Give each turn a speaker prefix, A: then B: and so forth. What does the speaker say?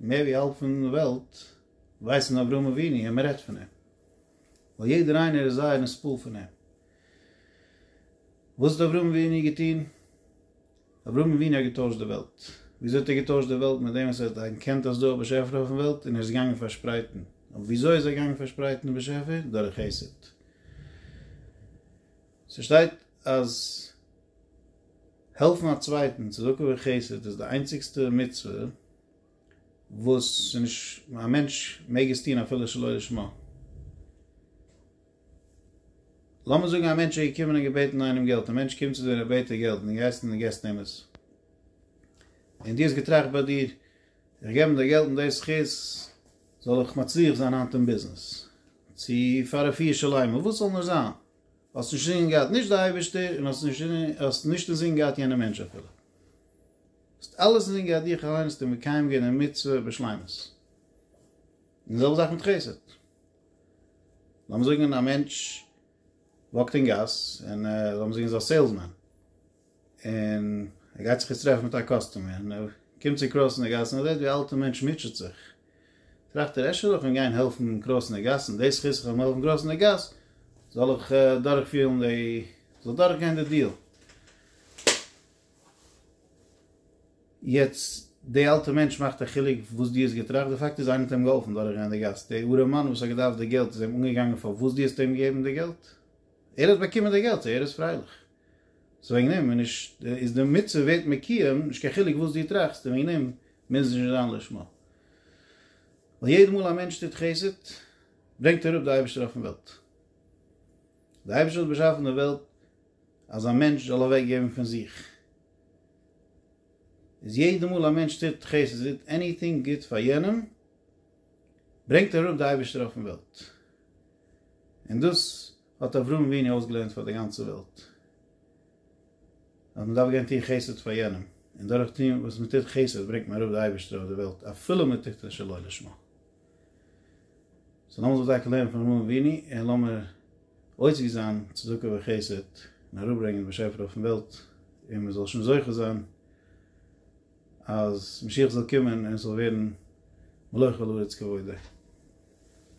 A: מער ווי האלב פון וועלט ווייסן אברהם אבינו און מען רעדט פון אים, ווייל יעדער איינער איז זייער נספעל פון אים. וואס האט אברהם אבינו געטון? אברהם אבינו האט געטוישט די וועלט. וויאזוי האט ער געטוישט די וועלט? מיט דעם וואס ער האט ערקענט אז דא איז א באשעפער אויפן וועלט און ער איז געגאנגען פארשפרייטן. אבער וויאזוי איז ער געגאנגען פארשפרייטן די באשעפער? דורך חסד. ס'שטייט אז. העלפן א צווייטן, צדקה און חסד איז די איינציגסטע מצוה וואס ס'נישט א מענטש מעג עס טון אפילו שלא לשמה. לאמיר זאגן א מענטש איז געקומען און געבעטן איינעם געלט, א מענטש קומט צו דיר און ער בעט דיר געלט און דו גייסט און דו געבסט אים עס, און דו האסט געטראכט ביי דיר, איך געב אים די געלט מיט די זכות זאל איך מצליח זיין היינט אין ביזנעס, צו פאר רפואה שלימה, וואס ס'זאל נאר זיין, האסט נישט אינזין געהאט נישט די אייבערשטער און האסט נישט אינזין געהאט יענע מענטש אפילו. האסט אלעס אינזין געהאט דיך אליין און האסט מקיים געווען די מצוה בשלימות. און די זעלבע זאך מיט חסד. לאמיר זאגן א מענטש וואקט אין גאס און לאמיר זאגן איז א סעילסמען. און ער גייט זיך יעצט טרעפן מיט א קאסטומער, און ער קומט צו קרויסענע גאסן, ער זעט ווי א אלטע מענטש מוטשעט זיך, טראכט ער, אפשר זאל איך אים גיין העלפן קרויסענע גאסן, די זכות איך וועל אים העלפן קרויסענע גאס, זאל איך דורך פירן די, זאל דורך גיין די דיעל. יעצט די אלטע מענטש מאכט א חילוק וואס די האסט געטראכט, די פאקט איז איינער האט אים געהאלפן דורך גיין די גאס, די ארעם מאן וואס האט געדארפט די געלט איז אים אנגעגאנגען פארוואס די האסט אים געגעבן די געלט, ער האט באקומען די געלט, סאו ער איז פרייליך. סאו וועגן דעם איז נישט איז די מצוה ווערט מקוים נישט קיין חילוק וואס דו טראכסט און וועגן דעם מוז עס נישט זיין לשמה ווייל יעדע מאל א מענטש טוט חסד ברענגט ער אראפ די אייבערשטער אויפן וועלט די אייבערשטער האט באשאפן די וועלט אז א מענטש זאל אוועק געבן פון זיך איז יעדע מאל א מענטש טוט חסד עניטינג גוט פאר יענעם ברענגט ער אראפ די אייבערשטער אויפן וועלט און דאס האט אברהם אבינו אויסגעלערנט פאר די גאנצע וועלט אז מען דארף גיין טון חסד פאר יענעם, און דורך טון וואס מען טוט חסד ברענגט מען אראפ די אייבערשטער אויף די וועלט אפילו מען טוט עס שלא לשמה. סאו לאמיר זיך דייקא לערנען פון אברהם אבינו און לאמיר עוסק זיין צדקה וחסד און אראפ ברענגען די באשעפער אויפן וועלט און מען זאל שוין זוכה זיין אז משיח זאל קומען און עס זאל ווערן מלוכה לארץ כבודה.